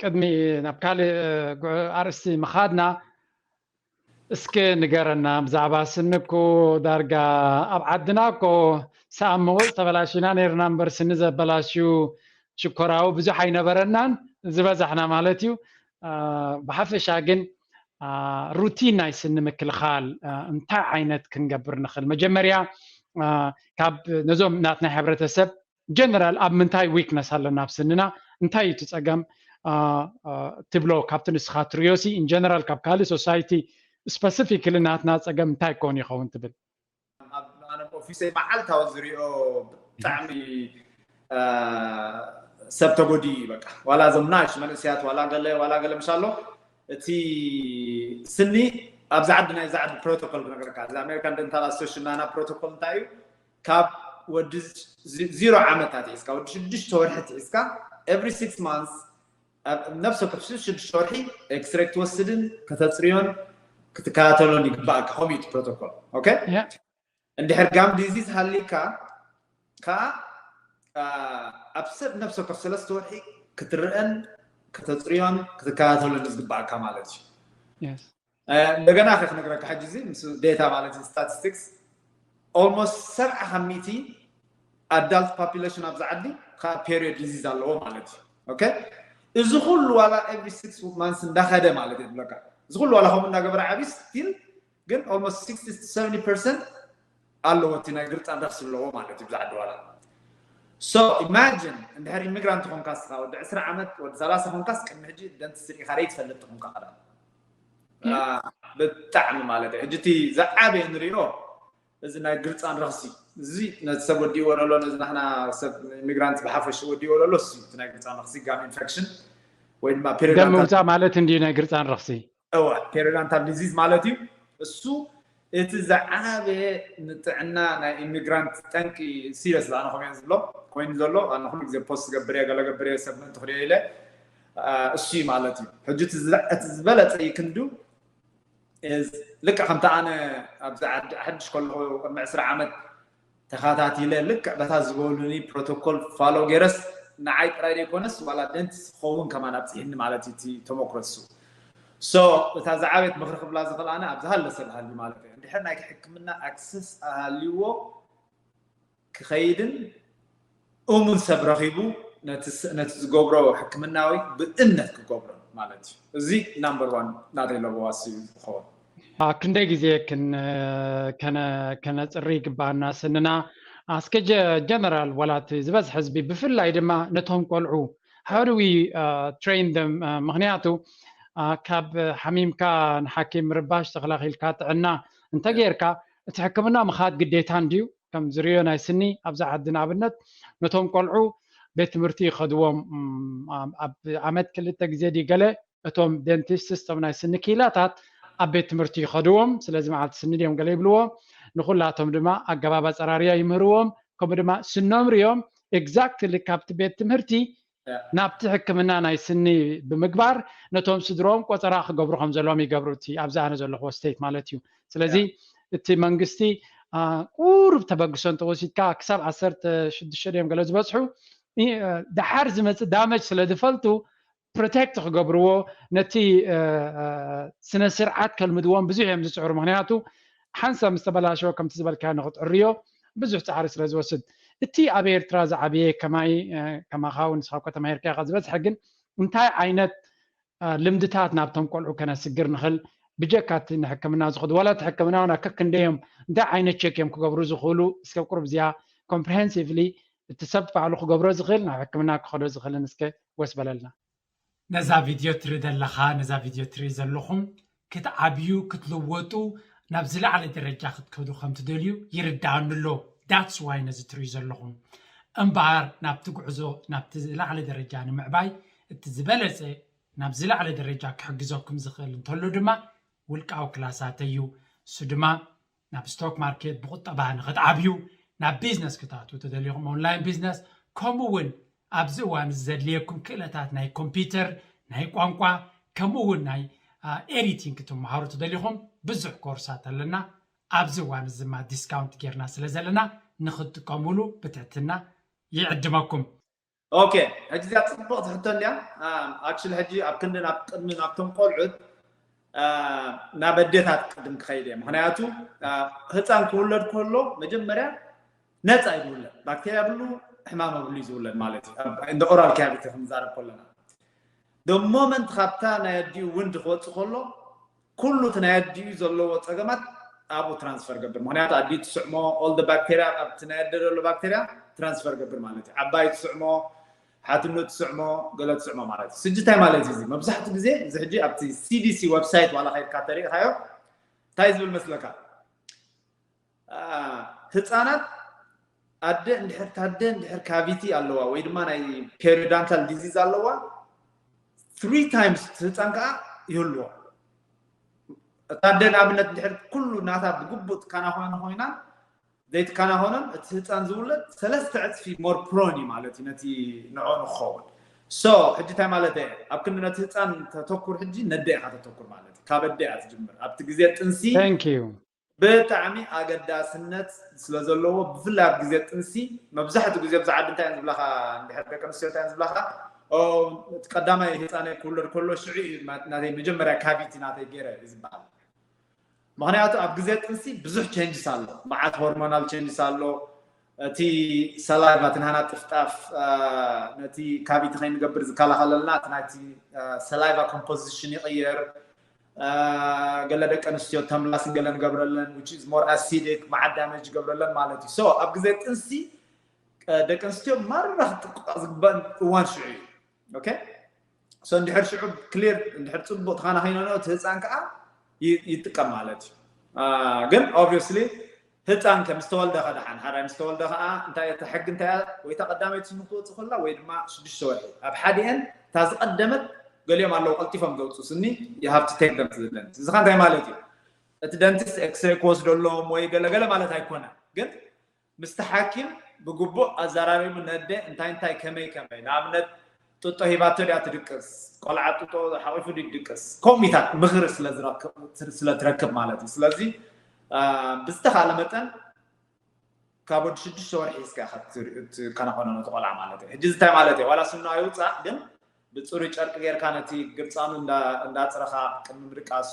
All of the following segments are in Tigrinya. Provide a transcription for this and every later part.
ቅድሚ ናብ ካልእ ኣርእስቲ ምኻድና እስከ ንገረና ብዛዕባ ስኒ እኮ ዳርጋ ኣብ ዓድና እኮ ሰኣን መወዝ ተበላሽና ነይርና እምበር ስኒ ዘበላሽዩ ሽኮራዊ ብዙሕ ኣይነበረናን ዝበዛሕና ማለት እዩ ብሓፈሻ ግን ሩቲን ናይ ስኒ ምክልኻል እንታይ ዓይነት ክንገብር ንኽእል መጀመርያ ካብ ነዞም ናትና ሕብረተሰብ ጀነራል ኣብ ምንታይ ዊክነስ ኣለና ኣብ ስንና እንታይ እዩ እቲ ጸገም ትብሎ ካብቲ ንስኻ ትርዮሲ ኢንጀነራል ካብ ካልእ ሶሳይቲ ስፐሲፊክሊ ናትና ጸገም እንታይ ኮን ይኸውን ትብል? ኣብ ኣነ ኦፊሰይ መዓልታዊ ዝሪኦ ብጣዕሚ ሰብ ተጎዲኡ እዩ በቃ ዋላ እዞም ናሽ መንእሰያት ዋላ ገለ ዋላ ገለ ምሻ ኣሎ እቲ ስኒ ኣብዚ ዓዲ ናይ እዚ ዓዲ ፕሮቶኮል ክነግረካ እዚ ኣሜሪካ ደንታል ኣሶሽን ናና ፕሮቶኮል እንታይ እዩ ካብ ወዲ ዚሮ ዓመት ኣትሒዝካ ወዲ ሽዱሽተ ወርሒ ኣትሒዝካ ኤቭሪ ሲክስ ማንስ ኣብ ነፍሲ ወከፍ ሽዱሽተ ወርሒ ኤክስሬ ክትወስድን ከተፅርዮን ክትከታተሎን ይግባእካ ከምኡ እዩ እቲ ፕሮቶኮል ኦኬ ያ እንድሕር ጋም ዲዚዝ ሃሊካ ከዓ ኣብ ሰብ ነፍሲ ወከፍ ሰለስተ ወርሒ ክትርአን ከተፅርዮን ክትከታተሎን እዩ ዝግባእካ ማለት እዩ የስ እንደገና ከ ክነግረካ ሕጂ እዚ ምስ ዴታ ማለት እዩ ስታቲስቲክስ ኦልሞስት ሰብዓ ካብ ሚእቲ ኣዳልት ፖፑሌሽን ኣብዚ ዓዲ ከዓ ፔሪዮድ ዲዚዝ ኣለዎ ማለት እዩ ኦኬ እዚ ኩሉ ዋላ ኤቭሪ ሲክስ ማንስ እንዳኸደ ማለት እዩ ብለካ እዚ ኩሉ ዋላ ከምኡ እንዳገበረ ዓብዪ ስቲል ግን ኦልሞስት ሲክስቲ ሰቨኒ ፐርሰንት ኣለዎ እቲ ናይ ግርጣን ረክሲ ኣለዎ ማለት እዩ ብዛዕዲ ዋላ ሶ ኢማጂን እንድሕር ኢሚግራንት ኮንካ ስኻ ወዲ ዕስራ ዓመት ወዲ ሰላሳ ኮንካስ ቅድሚ ሕጂ ደንቲስትሪ ኢኻ ደይ ትፈልጥ ኮንካ ኸዳ ብጣዕሚ ማለት ሕጂ እቲ ዝዓበየ ንሪኦ እዚ ናይ ግርፃን ረኽሲ እዚ ነቲ ሰብ ወዲእዎ ዘሎ ነዚ ናሕና ሰብ ኢሚግራንት ብሓፈሽ ወዲእዎ ዘሎ እዚ እቲ ናይ ግርፃን ረኽሲ ጋም ኢንፌክሽን ወይ ድማ ደም ምውፃእ ማለት እንዲ ናይ ግርፃን ረኽሲ እዋ ፔሪዳንታል ዲዚዝ ማለት እዩ እሱ እቲ ዝዓበየ ንጥዕና ናይ ኢሚግራንት ጠንቂ ኢዩ ሲሪየስሊ ኣነ ከምኡ ኢየ ዝብሎ ኮይኑ ዘሎ ኣነ ኩሉ ግዜ ፖስት ዝገብር ኢየ ገለ ገብር ኢየ ሰብ ምእንቲ ክሪኦ ኢለ እሱ ኢዩ ማለት ኢዩ ሕጂ እቲ ዝበለጸ ይክንዱ ልክዕ ከምቲ ኣነ ኣብዚ ዓዲ ሓድሽ ከለኹ ቅድሚ ዕስራ ዓመት ተኻታቲለ ልክዕ በታ ዝበሉኒ ፕሮቶኮል ፋሎ ገይረስ ንዓይ ጥራይ ዘይኮነስ ዋላ ደንቲስት ክኸውን ከማን ኣብጺሕኒ ማለት እዩ እቲ ተሞክሮ እሱ so እታ ዝዓበየት ምኽሪ ክብላ ዝኽእል ኣነ ኣብ ዝሃለ ሰብ ሃልዩ ማለት እዩ እንድሕር ናይቲ ሕክምና ኣክሰስ ኣሃልዩዎ ክኸይድን እሙን ሰብ ረኺቡ ነቲ ዝገብሮ ሕክምናዊ ብእምነት ክገብሮ ማለት እዩ እዚ ናምበር ዋን ናተይ ለበዋሲ ዝኸውን ኣብ ክንደይ ግዜ ከነፅሪ ይግባኣና ስንና ኣስከ ጀነራል ዋላቲ ዝበዝሐ ህዝቢ ብፍላይ ድማ ነቶም ቆልዑ how do we uh, train them uh, ምክንያቱ uh, ካብ ሓሚምካ ንሓኪም ምርባሽ ተኸላኺልካ ጥዕና እንተጌርካ እቲ ሕክምና ምኻድ ግዴታ እንድዩ ከም ዝርእዮ ናይ ስኒ ኣብዛ ዓዲ ንኣብነት ነቶም ቆልዑ ቤት ትምህርቲ ይኸድዎም ኣብ ዓመት ክልተ ግዜ ድዩ ገለ እቶም ደንቲስትስ እቶም ናይ ስኒ ክኢላታት ኣብ ቤት ትምህርቲ ይኸድዎም ስለዚ መዓልቲ ስኒ ድዮም ገለ ይብልዎ ንኹላቶም ድማ ኣገባብ ኣፀራርያ ይምህርዎም ከምኡ ድማ ስኖም ርዮም ኤግዛክትሊ ካብቲ ቤት ትምህርቲ ናብቲ ሕክምና ናይ ስኒ ብምግባር ነቶም ስድርኦም ቆጸራ ክገብሩ ከም ዘለዎም ይገብሩ እቲ ኣብዚ ኣነ ዘለኹዎ ስቴት ማለት እዩ ስለዚ እቲ መንግስቲ ቁሩብ ተበግሶ እንተወሲድካ ክሳብ ዓሰርተ ሽዱሽተ ድዮም ገለ ዝበጽሑ ደሓር ዝመጽእ ዳመጅ ስለ ዝፈልጡ ፕሮቴክት ክገብርዎ ነቲ ስነ ስርዓት ከልምድዎም ብዙሕ እዮም ዝፅዕሩ ምክንያቱ ሓንሳብ ምስ ተበላሸወ ከምቲ ዝበልካዮ ንኽትዕርዮ ብዙሕ ጻዕሪ ስለ ዝወስድ እቲ ኣብ ኤርትራ ዝዓበየ ከማይ ከማኻ ውን ንስኻ እኳ ተማሂርካ ኢኻ ዝበዝሐ ግን እንታይ ዓይነት ልምድታት ናብቶም ቆልዑ ከነስግር ንኽእል ብጀካ እቲ ንሕክምና ዝኸዱ ዋላ እቲ ሕክምና ውን ከክንደይ እዮም እንታይ ዓይነት ቸክ እዮም ክገብሩ ዝኽእሉ እስከ ኣብ ቁሩብ እዚኣ ኮምፕሬሄንሲቭሊ እቲ ሰብ ባዕሉ ክገብሮ ዝኽእል ናብ ሕክምና ክኸዶ ዝኽእልን እስከ ወስ በለልና። ነዛ ቪድዮ ትርኢ ዘለኻ ነዛ ቪድዮ ትርኢ ዘለኹም ክትዓብዩ ክትልወጡ ናብ ዝለዓለ ደረጃ ክትከዱ ከም ትደልዩ ይርደኣኒ ኣሎ ዳትስ ዋይ ነዚ ትርእዩ ዘለኹም እምበኣር ናብቲ ጉዕዞ ናብቲ ዝለዓለ ደረጃ ንምዕባይ እቲ ዝበለጸ ናብ ዝለዓለ ደረጃ ክሕግዘኩም ዝኽእል እንተሎ ድማ ውልቃዊ ክላሳተይ እዩ እሱ ድማ ናብ ስቶክ ማርኬት ብቁጠባ ንክትዓብዩ ናብ ቢዝነስ ክታቱ ተደሊኩም ኦንላይን ቢዝነስ ከምኡ እውን ኣብዚ እዋን እዚ ዘድልየኩም ክእለታት ናይ ኮምፒተር ናይ ቋንቋ ከምኡ እውን ናይ ኤዲቲንግ ክትመሃሩ ተደሊኩም ብዙሕ ኮርሳት ኣለና ኣብዚ እዋን እዚ ድማ ዲስካውንት ጌርና ስለ ዘለና ንክትጥቀሙሉ ብትሕትና ይዕድመኩም። ኦኬ ሕጂ እዚኣ ጽብቕቲ ሕቶ እንድያ ኣክሽሊ ሕጂ ኣብ ክንዲ ናብ ቅድሚ ናብቶም ቆልዑት ናብ ኣዴታት ቅድም ክኸይድ እየ ምክንያቱ ህፃን ክውለድ ከሎ መጀመርያ ነፃ እዩ ዝውለድ ባክቴርያ ብሉ ሕማም ኣብሉ እዩ ዝውለድ ማለት እዩ እንደ ኦራል ካቪቲ ክንዛረብ ከለና ዶ ሞመንት ካብታ ናይ ኣዲኡ ውንድ ክወፅእ ከሎ ኩሉ እቲ ናይ ኣዲኡ ዘለዎ ጸገማት ኣብኡ ትራንስፈር ገብር ምክንያቱ ኣዲኡ ትስዕሞ ኦል ደ ባክተርያ ኣብቲ ናይ ኣደ ዘሎ ባክተርያ ትራንስፈር ገብር ማለት እዩ ዓባይ ትስዕሞ ሓትኖ ትስዕሞ ገለ ትስዕሞ ማለት እዩ ስጂ እንታይ ማለት እዩ መብዛሕትኡ ግዜ እዚ ሕጂ ኣብቲ ሲዲሲ ወብሳይት ዋላ ከይድካ ተሪኢኻዮ እንታይ ዝብል መስለካ ህጻናት ኣደ እንድሕር ታደ እንድሕር ካቪቲ ኣለዋ ወይ ድማ ናይ ፔሪዳንታል ዲዚዝ ኣለዋ ትሪ ታይምስ ህፃን ከዓ ይህልዎ እታ ኣደ ንኣብነት እንድሕር ኩሉ ናታ ብግቡእ ትከናኸነ ኮይና ዘይትከናኸኖን እቲ ህፃን ዝውለድ ሰለስተ ዕፅፊ ሞር ፕሮን እዩ ማለት እዩ ነቲ ንዕኡ ንክኸውን ሶ ሕጂ እንታይ ማለት እየ ኣብ ክንዲ ነቲ ህፃን ተተኩር ሕጂ ነደ ኢኻ ተተኩር ማለት እዩ ካብ ኣደ እያ ትጅምር ኣብቲ ግዜ ጥንሲ ብጣዕሚ ኣገዳስነት ስለ ዘለዎ ብፍላይ ኣብ ግዜ ጥንሲ መብዛሕትኡ ግዜ ኣብዚ ዓዲ እንታይ እየን ዝብላኻ እንድሕር ደቂ ኣንስትዮ እንታይ እየን ዝብላኻ እቲ ቀዳማይ ህፃነይ ክውለድ ከሎ ሽዑ እዩ ናተይ መጀመርያ ካቪቲ ናተይ ገይረ እዩ ዝበሃል ምክንያቱ ኣብ ግዜ ጥንሲ ብዙሕ ቼንጅስ ኣሎ መዓት ሆርሞናል ቼንጅስ ኣሎ እቲ ሰላይቫ እቲ ናህና ጥፍጣፍ ነቲ ካቪቲ ከይንገብር ዝከላኸለልና እቲ ናይቲ ሰላይቫ ኮምፖዚሽን ይቕየር ገለ ደቂ ኣንስትዮ ተምላስ ገለ ንገብረለን which is more acidic መዓት ዳመጅ ይገብረለን ማለት እዩ so ኣብ ግዜ ጥንሲ ደቂ ኣንስትዮ ማራ ክጥቅዖ ዝግበአን እዋን ሽዑ እዩ ኦኬ so እንድሕር ሽዑ ክሊር እንድሕር ፅቡቅ ተኸናኺነንኦ እቲ ህፃን ከዓ ይጥቀም ማለት እዩ ግን ኦብቪየስሊ ህጻን ከ ምስ ተወልደ ከ ደሓን ሓራይ ምስ ተወልደ ከኣ እንታይ እያ እታ ሕጊ እንታይ እያ ወይ እታ ቀዳመይቲ ስሙ ክትወጽእ ከላ ወይ ድማ ሽዱሽተ ወርሒ ኣብ ሓዲኤን እታ ዝቀደመት ገሊኦም ኣለዉ ቀልጢፎም ዘውጽኡ ስኒ you have to take them to the dentist እዚ ከ እንታይ ማለት እዩ እቲ ደንቲስት ኤክስሬይ ክወስደሎም ወይ ገለገለ ማለት ኣይኮነን ግን ምስቲ ሓኪም ብግቡእ ኣዘራሪቡ ነደ እንታይ እንታይ ከመይ ከመይ ንኣብነት ጡጦ ሂባቶ ድያ ትድቅስ ቆልዓ ጡጦ ሓቂፉ ድዩ ድቅስ ኮሚታት ምክሪ ስለ ትረክብ ማለት እዩ ስለዚ ብዝተካለ መጠን ካብ ወዲ ሽዱሽተ ወርሒ ሒዝካ ኢካ ትከናኮኖ ነቲ ቆልዓ ማለት እዩ ሕጂ እዚ እንታይ ማለት እዩ ዋላ ስኑ ኣይውፃእ ግን ብፅሩይ ጨርቂ ጌርካ ነቲ ግርፃኑ እንዳፅረካ ቅድሚ ምድቃሱ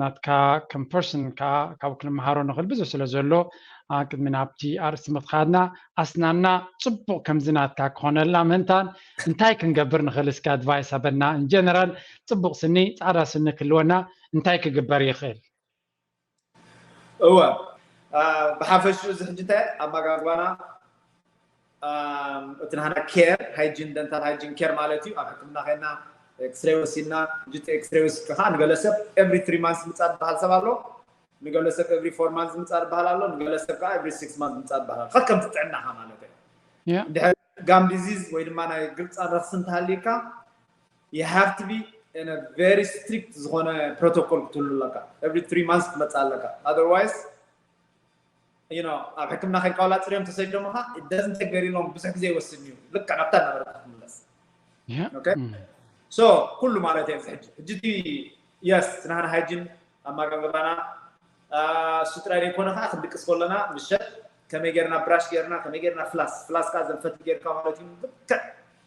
ናትካ ከም ፐርሰን ከኣ ካብኡ ክንመሃሮ ንኽእል ብዙሕ ስለ ዘሎ ቅድሚ ናብቲ ኣርእስቲ ምኽኻድና ኣስናና ጽቡቕ ከምዚ ናትካ ክኾነልና ምህንታን እንታይ ክንገብር ንኽእል እስኪ ኣድቫይስ ኣበና ኢንጀነራል ጽቡቕ ስኒ ጻዕዳ ስኒ ክህልወና እንታይ ክግበር ይኽእል እወ ብሓፈሽኡ እዚ ሕጂ እንታይ ኣመጋግባና እቲ ናህና ኬር ሃይጂን ደንታል ሃይጂን ኬር ማለት እዩ ኣብ ሕክምና ከና ኤክስሬ ወሲድና ሕጂ እቲ ኤክስሬ ወሲድካ ከዓ ንገለ ሰብ ኤቭሪ ትሪ ማንስ ምፃ ዝበሃል ሰብ ኣሎ ንገለ ሰብ ኤቭሪ ፎር ማንስ ምፃ ዝበሃል ኣሎ ንገለ ሰብ ከዓ ኤቭሪ ሲክስ ማንስ ምፃ ዝበሃል ኣሎ ከከምቲ ጥዕናኻ ማለት እዩ ድሕሪ ጋም ዲዚዝ ወይ ድማ ናይ ግልፂ ኣለርሲ እንተሃልዩካ you have to be in a very strict ዝኾነ ፕሮቶኮል ክትህሉ ኣለካ every three months ክትመፅእ ኣለካ otherwise you know ኣብ ሕክምና ከድካ ዋላ ፅርዮም ተሰዲዶምኻ it doesn't take very long ብዙሕ ግዜ ይወስድ እዩ ልክዕ ናብታ ነበረካ ክትምለስ ኦኬ ሶ ኩሉ ማለት እየ ሕጂ ሕጂ እቲ የስ ናህና ሃይጂን ኣመጋግባና እሱ ጥራይ ዘይኮነ ከኣ ክንድቅስ ከሎና ምሸት ከመይ ጌርና ብራሽ ጌርና ከመይ ጌርና ፍላስ ፍላስ ከኣ ዘን ፈትሊ ጌርካ ማለት እዩ ብልክዕ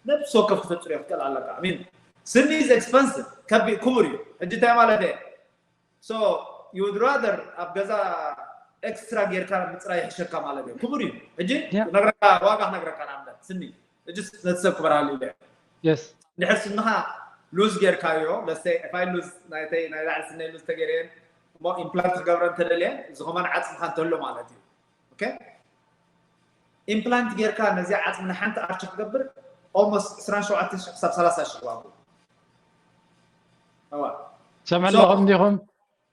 ነብሲ ወከፍ ክተጽርዮ ክትክእል ኣለካ ሚን ስኒ ኢዝ ኤክስፐንሲቭ ከቢእ ክቡር እዩ ሕጂ እንታይ ማለት እየ ሶ ዩ ውድ ራዘር ኣብ ገዛ ኤክስትራ ጌርካ ምጽራይ ይሕሸካ ማለት እዩ ክቡር እዩ ሕጂ ነግረካ ዋጋ ክነግረካ ንኣብነት ስኒ እጅስ ነቲ ሰብ ክበርሃሉ ኢለ የስ ድሕር ስንኻ ሉዝ ጌርካዮ ለሰይ ዕፋይ ሉዝ ናይተይ ናይ ላዕሊ ስነይ ሉዝ ተገይረየን እሞ ኢምፕላንት ክገብረ እንተደልየ እዚ ከማን ዓፅምካ እንተሎ ማለት እዩ ኦኬ ኢምፕላንት ጌርካ ነዚ ዓፅሚ ንሓንቲ ኣርቺ ክገብር ኦልሞስት 27 ሽሕ ክሳብ 30 ሽሕ ዋጉ ሰምዕ ኣለኹም ዲኹም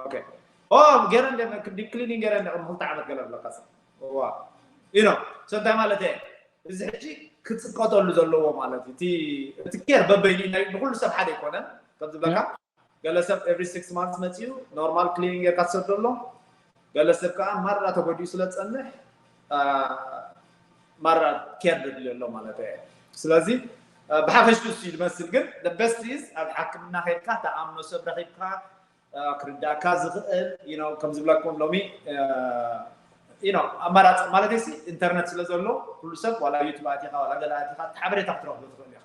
ኦኬ ኦ ገረ እንደ ዲፕ ክሊኒንግ ገረ እንደ ክልተ ዓመት ገለ ብለካሰ ዋ ዩ ኖ ሰ እንታይ ማለት እየ እዚ ሕጂ ክፅቀጠሉ ዘለዎ ማለት እዩ እቲ እቲ ኬር በበይኑ ናይ ንኩሉ ሰብ ሓደ ኣይኮነን ከም ዝብለካ ገለ ሰብ ኤቭሪ ሲክስ ማንት መፅኡ ኖርማል ክሊኒንግ ጌርካ ትሰዶ ኣሎ ገለ ሰብ ከኣ ማራ ተጎዲኡ ስለ ዝጸንሕ ማራ ኬር ዘድልዮ ኣሎ ማለት ኣየ ስለዚ ብሓፈሽቱ እሱ ዝመስል ግን the best is ኣብ ሓክምና ከድካ ተኣምኖ ሰብ ረኺብካ ክርዳእካ ዝኽእል ነው ከምዝብለኩም ሎሚ ነው ኣማራፂ ማለት ሲ ኢንተርነት ስለ ዘሎ ኩሉ ሰብ ዋላ ዩቱብ ኣቲኻ ዋላ ገለ ኣቲኻ ሓበሬታ ክትረኽቡ ትኽእል ኢኻ